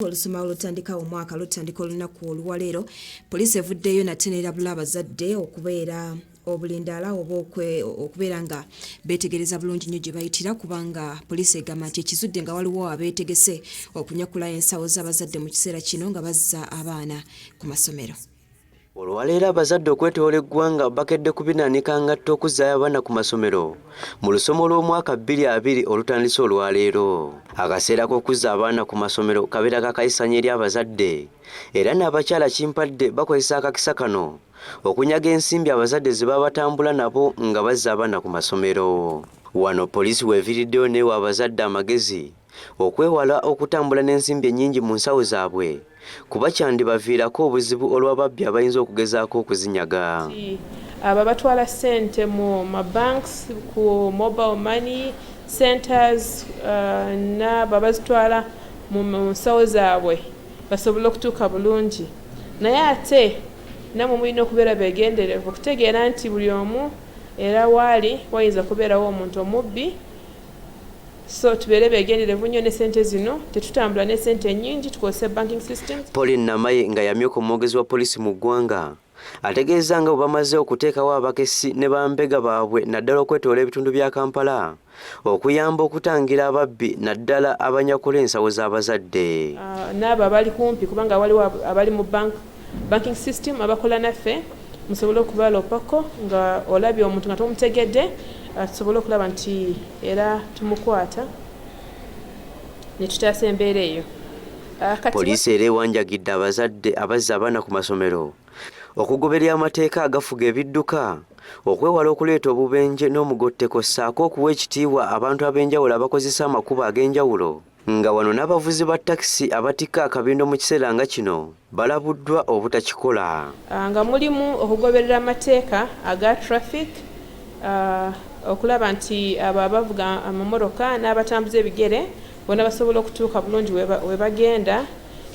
olusoma olutandika omwaka lutandika olunaku oluwaleero poliisi evuddeyo nate neerabula abazadde okubeera obulindaala oba okubeera nga beetegereza bulungi nnyo gye bayitira kubanga poliisi egamba nti ekizudde nga waliwo abeetegese okunyakula ensawo z'abazadde mu kiseera kino nga bazza abaana ku masomero Olwaleero abazadde okwetoola eggwanga bakedde kubinaanika ngatto okuzzaayo abaana ku masomero mu lusoma olw'omwaka 22 olutandise olwaleero. Akaseera k'okuzza abaana ku masomero kabeera kakayisanya eri abazadde era n'abakyala kimpadde bakozesa akakisa kano okunyaga ensimbi abazadde ze baba batambula nabo nga bazza abaana ku masomero. Wano poliisi weeviiriddeyo n'ewa abazadde amagezi okwewala okutambula n'ensimbi ennyingi mu nsawo zaabwe kuba kyandibaviirako obuzibu olw'ababbi abayinza okugezaako okuzinyaga. Abo abatwala ssente mu mabanks, ku mobile money centers uh, n'abo abazitwala mu nsawo zaabwe basobole okutuuka bulungi naye ate namwe mulina okubeera beegenderevu okutegeera nti buli omu era waali wayinza kubeerawo omuntu omubbi so tubeere begenderevu nnyo ne sente zino tetutambula ne sente nyingi tukozese banking system Pauline Namaye nga yamyuka omwogezi wa poliisi mu ggwanga ategeeza nga bwe bamaze okuteekawo abakessi ne bambega baabwe naddala okwetoola ebitundu bya Kampala okuyamba okutangira ababbi naddala abanyakula ensawo z'abazadde ah, n'abo abali kumpi kubanga waliwo abali mu bank banking system abakola naffe musobole okubalopako nga olabye omuntu nga tomutegedde ah, tusobole okulaba nti era tumukwata netutaasa embeera eyo ah, poliisi era ewanjagidde abazadde abazza abaana ku masomero okugoberera amateeka agafuga ebidduka okwewala okuleeta obubenje n'omugotteko ssaako okuwa ekitiibwa abantu ab'enjawulo abakozesa amakubo ag'enjawulo nga wano n'abavuzi ba takisi abatikka akabindo mu kiseera nga kino balabuddwa obutakikola. Ah, nga mulimu okugoberera amateeka aga traffic ah, okulaba nti abo abavuga amamotoka n'abatambuza ebigere bona basobola okutuuka bulungi we bagenda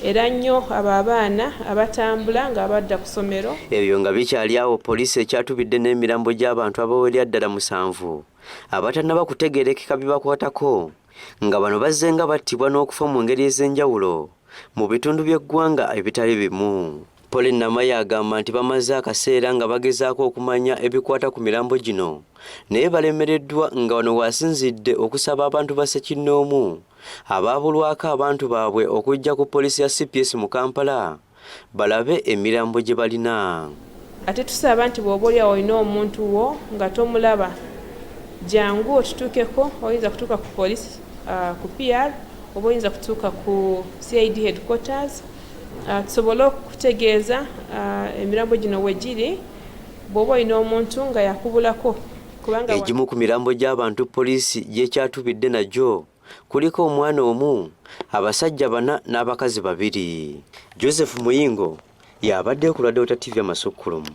era nnyo abo abaana abatambula nga badda ku ssomero ebyo nga bikyali awo poliisi ekyatubidde n'emirambo gy'abantu abawerya ddala musanvu abatanaba kutegerekeka bibakwatako nga bano bazzenga battibwa n'okufa mu ngeri ez'enjawulo mu bitundu by'eggwanga ebitali bimu. Pauline Namaye agamba nti bamaze akaseera nga bagezaako okumanya ebikwata ku mirambo gino naye balemereddwa nga wano waasinzidde okusaba abantu ba ssekinnoomu abaabulwako abantu baabwe okujja ku poliisi ya CPS mu Kampala balabe emirambo gye balina. Ate tusaba nti bw'oba oli awo olina omuntu wo nga tomulaba, jangu otutuukeko. Oyinza kutuuka ku poliisi ku PR oba oyinza kutuuka ku CID headquarters tusobole okukutegeeza emirambo gino we giri bw'oba olina omuntu nga yakubulako. Egimu ku mirambo gy'abantu poliisi gyekyatubidde nagyo Kuliko omwana omu, abasajja bana n'abakazi babiri. Joseph Muyingo y'abadde ku Lwadeota TV amasukkulumu.